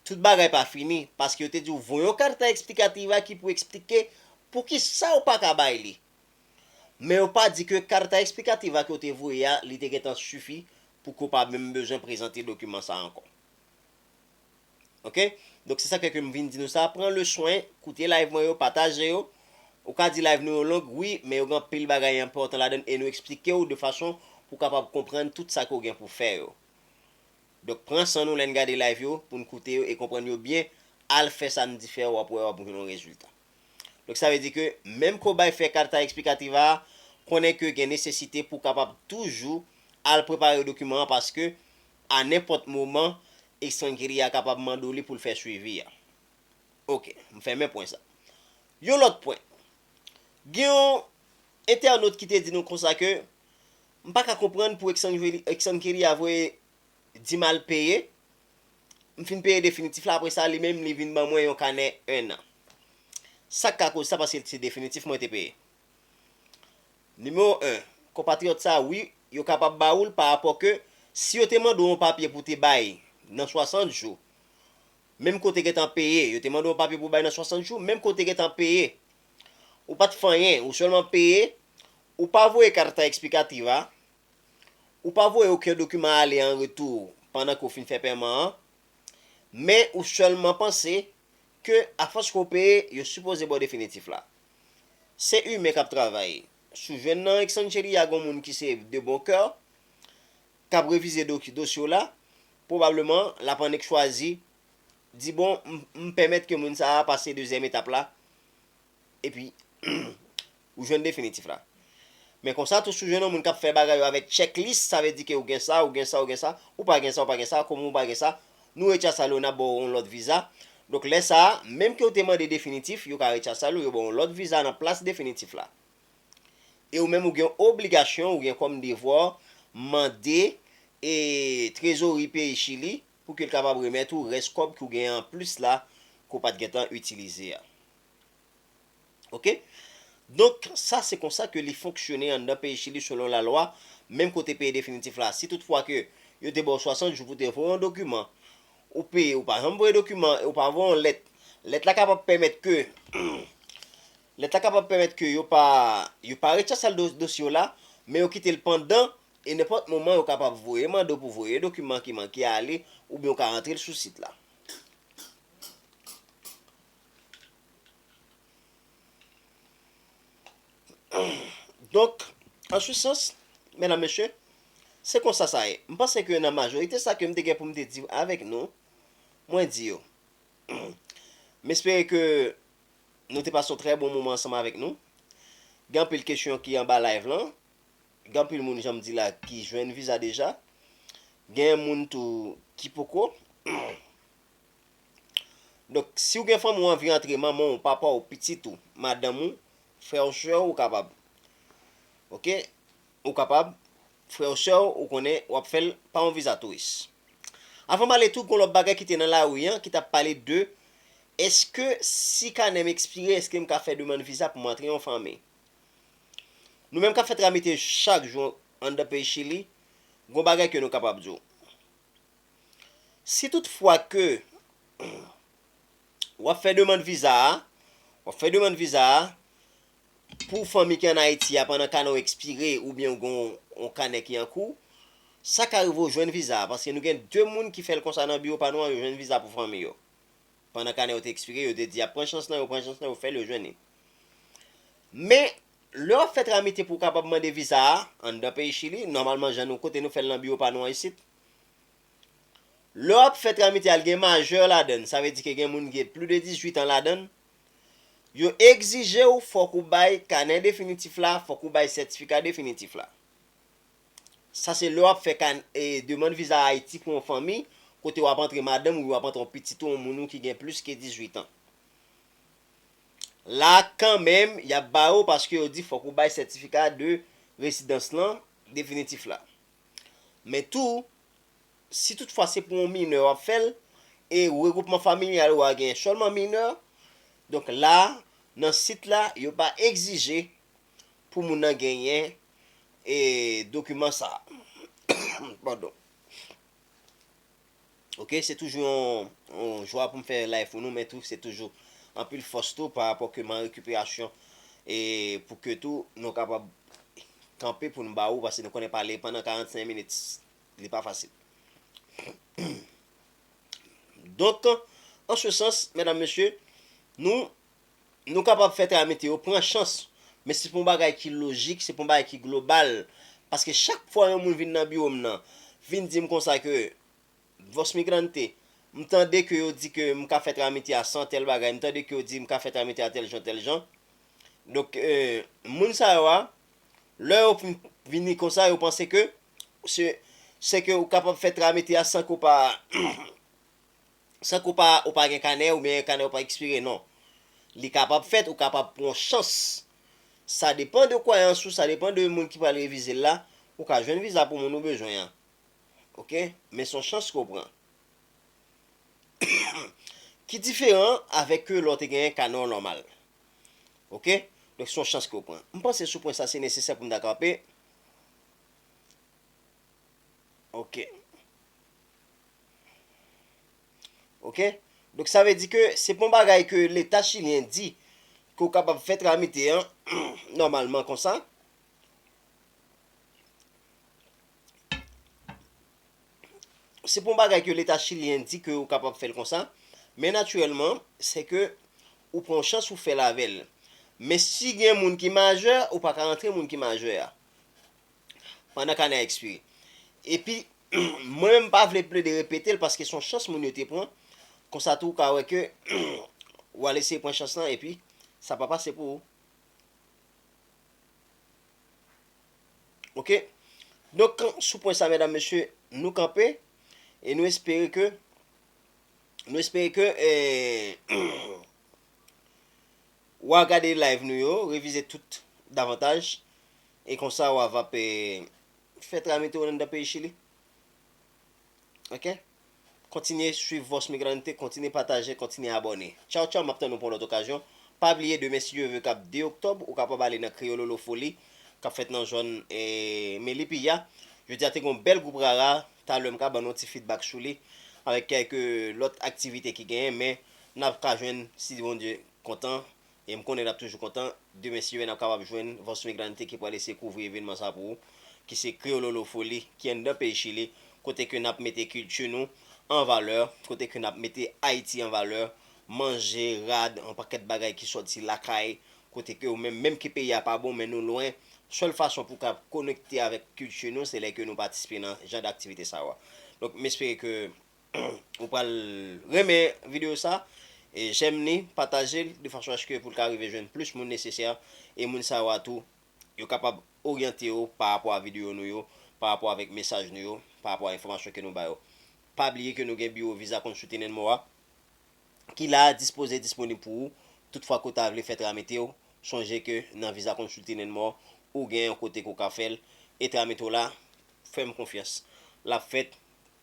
tout bagay pa fini paske yo te di w voye yon carta explicativa ki pou eksplike poukisa ou pa ka bay li Men yo pa di ke Carta Explicativa ke yo te voye a, li te gentan sifi pou ke w pa menm bezwen prezante dokiman sa ankò. Ok. Donk se sak fè ke m vin di nou sa, pran le swen, koute live mwen yo, pataje yo. Ou ka di live nou yo long, wi, men yo gen anpil bagay enpòtan ladann e nou eksplike w de fason pou w kapab konprann tout sa ke w gen pou w fè yo. Donk pran san nou lè n gade live yo, pou n koute yo e konprann yo byen, al fè sa n di fè, w ap wè w ap gen yon rezilta. Donk sa vle di ke menm kobay fè carta explicativa a konnen ke gen nesesite pou kapab toujou al prepare dokiman an paske a nenpòt moman estrangeria a kapab mande w li pou l fè swivi a. Ok, m fèmen pwen sa. Yon lòt pwen. Gen yon entènot ki te di nou konsa ke m pa ka konprann pou extrangeria voye di m al peye M fin peye definitif la apre sa li menm li vin ban mwen yon kanè 1 an. Sa k ka koz sa paske se definitif mwen te peye. Nimewo 1, Konpatriyòt sa wi yo kapab ba ou l pa rapò ke si yo te mande w yon papye pou te bay nan 60 jou menm ke w te gentan peye yo te mande w yon papye pou bay nan 60 jou menm ke w te gentan peye ou pa t fè anyen ou sèlman peye ou pa voye carta explicativa Ou pa voye oken dokiman ale an retou pandan ke w fin fè pèman an, men ou sèlman panse ke afòs ke w peye, yo sipoze ba w definitif la. Se imen k ap travay. Si w jwenn nan Xanchelia a gen yon moun ki se de bon kè, k ap revize dosye w la, pwobableman l ap annik chwazi di bon m pèmèt ke moun sa a pase dezyèm etap la Epi, ou jwenn definitif la. Men konsa tou si w jwenn yon moun k ap fè bagay yo avèk chèklis, sa vle di ke ou gen sa, ou gen sa, ou gen sa, ou pa gen sa, ou pa gen sa, kòm ou pa gen sa, nou rechasal ou n ap ba w yon lòt viza. Donk lè sa a, menm ke ou te mande definitif, yo ka rechasal ou, yo ba w yon lòt viza nan plas definitif la. E ou menm ou gen obligasyon, ou gen kòm devwa w, mande e trezori peyi Chili pou ke l kapab remèt ou rès kòb ke w gen an plis la ke w pa t gentan itilize a. Ok donk sa se konsa ke li fonksyone anndan peyi Chili selon lalwa menm kote peye definitif la si tout fwa ke yo te ba w 60 jou pou te voye yon dokiman ou peye ou pa janm voye dokiman an e ou pa voye yon lèt lèt la kapab pèmèt ke lèt la kapab pèmèt ke yo pa yo pa rechasal dosye w la men yo kite l pandan e nenpòt moman yo kapab voye mande w pou voye dokiman ki manke ale oubyen ou ka rantre l sou sit la. Donk, an su sans, mèdam mesye, se konsa sa ye. M panse ke nan majorite sa ke m te gen pou m te di avèk nou, mwen di yo. M espere ke nou te pase yon trè bon moman ansanm avèk nou. Gen anpil kesyon ki anba live lan. Gen anpil moun jan m di la ki jwenn viza deja. Gen moun tou ki poko. Donk, si ou gen fanmi ou anvi antre manman ou, papa ou, pitit ou, madanm ou, frè ou sè ou, ou kapab. Ok, ou kapab, frè ou sè ou, ou konnen, ou ap fèl pa yon viza touris. Avan male tou gon lòt bagay ki te nan lari an ki tap pale de eske si kanèm ekspire eske m ka fè demand viza pou m antre yon fanmi. Nou menm kap fè tramite chak jou anndan peyi Chili, gon bagay ke nou kapab di w. Si tout fwa ke w ap fè demand viza a, w ap fè demand viza a pou fanmi ki an Ayiti a pandan kanè w ekspire oubyen ou gen yon kanè ki an kou, sa ka rive w jwenn viza a paske nou gen 2 moun ki fè l konsa nan biwo pa nou an yo jwenn viza pou fanmi yo. Pandan kanè yo te ekspire yo te di y ap pran chans lan yo, pran chans lan yo fè l yo jwenn li. Men, lè w ap fè tramite pou w kapab mande viza a anndan peyi Chili, nòmalman jan nou kote nou fè l nan biwo pa nou an isit, Lè wap fè tramityal gen majeur ladann sa vle di ke gen moun ki gen plus de 18 ans ladann, yo egzijew fòk ou bay kanè definitif la, fòk ou bay sètifika definitif la. Sa se lè wap fè kan e demand viza Haïti pou yon fanmi kote wap antre madanm ou oubyen wap antre yon pitit ou yon moun ou ki gen plus ke 18 ans. La kanmenm yap barew paske yo di fòk ou bay sètifika de residans lan definitif la. Men tou, si tout fwa se pou yon minè w ap fè l, e regwoupman familyal ou a gen sèlman minè, donk la, nan sit la, yo pa egzije pou moun nan genyen dokiman sa a. ok se toujou yon jwa pou m fè live pou nou men tou se toujou anpil fòs tou pa rapò ke m an rekiperasyon e pou ke tou nou kapab kanpe pou nou ba ou pase nou konnen pale pandan 45 minit li pa fasil donk an se sans mèdam mesye nou Nou kapab fè travay meteo pran chans, men se pou yon bagay ki lojik, se pou yon bagay ki global, paske chak fwa yon moun vin nan biwo m nan, vin di m konsa ke Vos Migrante, m tande ke yo di ke m ka fè travay meteo a san tèl bagay, m tande ke yo di m ka fè travay meteo a tèl jan, tèl jan. Donk, moun sa yo a, lè yo fin vini konsa, yo panse ke se ke ou kapab fè travay meteo a san ke ou pa San ke w pa ou pa gen kanè oubyen kanè w pa ekspire non. Li kapab fèt, ou kapab pran yon chans. Sa depan de kwayans ou, sa depan de moun ki pral revize l la, ou ka jwenn viza pou moun ou bezwen an. Ok, men se yon chans ke w pran. Ki diferan avèk ke lè w te gen kanè w nòmal. Ok, donk se yon chans ke w pran. M panse sou pwen sa se nesesè pou m ta kanpe. Ok. Ok. Donk sa vle di ke se pon bagay ke leta chilyen di ke ou kapab fè tramite an nòmalman konsa. Se pon bagay ke leta chilyen di ke ou kapab fèl konsa. Men natirèlman, se ke ou pran chans ou fèl avèl. Men si gen moun ki majè, ou pa ka rantre moun ki majè a. pandan kanè a ekspire. Epi, mwen menm m pa vle plede repete l paske s on chans moun yo te pran, konsa tou ou ka wè ke w al eseye pran chans lan epi sa pa pase pou ou. Ok, donk sou pwen sa medam mesye nou kanpe e nou espere ke nou espere ke Wa gade live nou yo, revize tout davantaj, e konsa wa va pe fè tramite w nan dan peyi chili. Ok? Kontinye swiv Voz Migrante, kontinye pataje, kontinye abòne. Tchaw tchaw, map tann nou pou yon lòt okazyon. Pa bliye demen si Dye ve kap 2 oktòb, ou kapab ale nan Kreyololo Foli kap fèt nan zòn Melipilla. Jodi a te gen yon bèl gwoup rara, talè m ka ban nou yon ti fidbak sou li, avèk kèlke lòt aktivite ki genyen men. nap ka jwenn si Bondye kontan e m konnen nap toujou kontan demen si nap kapab jwenn Voz Migrante ki pral eseye kouvri evenman sa pou ou ki se Kreyololofoli ki anndan peyi Chili kote ke nap mete kilti nou an valè, kote ke nap mete Ayiti an valè, manje, rad, yon pakèt bagay ki sòti lakay kote ke ou menm, menm ke peyi a pa bon men nou lwen, sèl fason pou ka konekte avèk kilti nou se lè ke nou patisipe nan jan daktivite sa yo a. Donk m espere ke Ou pral renmen video sa, jèm li, pataje l de fason aske pou l ka rive jwenn plis moun nesesè e moun sa yo a tou yo kapab oryante yo pa rapò a video nou yo, pa rapò avèk mesaj nou yo, pa rapò a enfòmasyon ke nou ba yo. Pa bliye ke nou gen biwo Visa Consulting and More a ki la a dispoze e disponib pou ou tout fwa ke w ta vle fè tramite yo, sonje ke nan Visa Consulting and More ou gen yon kote ke w ka fè l e tramite w la fè m konfyans l ap fèt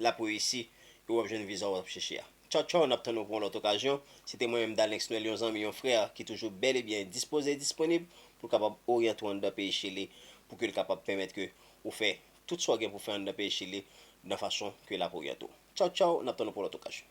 lap reyisi e wap jwenn viza wap chèche a. Tchaw tchaw nap tann ou pou yon lòt okazyon, se te mwen menm Dalenx Noel yon zanmi yon frè ki toujou bèl e byen dispoze e disponib pou l kapab oryante w anndan peyi Chili pou ke l kapab pèmèt ke ou fè tout sa w gen pou fè anndan peyi Chili nan fason ke lap oryante w. Tchaw tchaw nap tann ou pou yon lòt okazyon.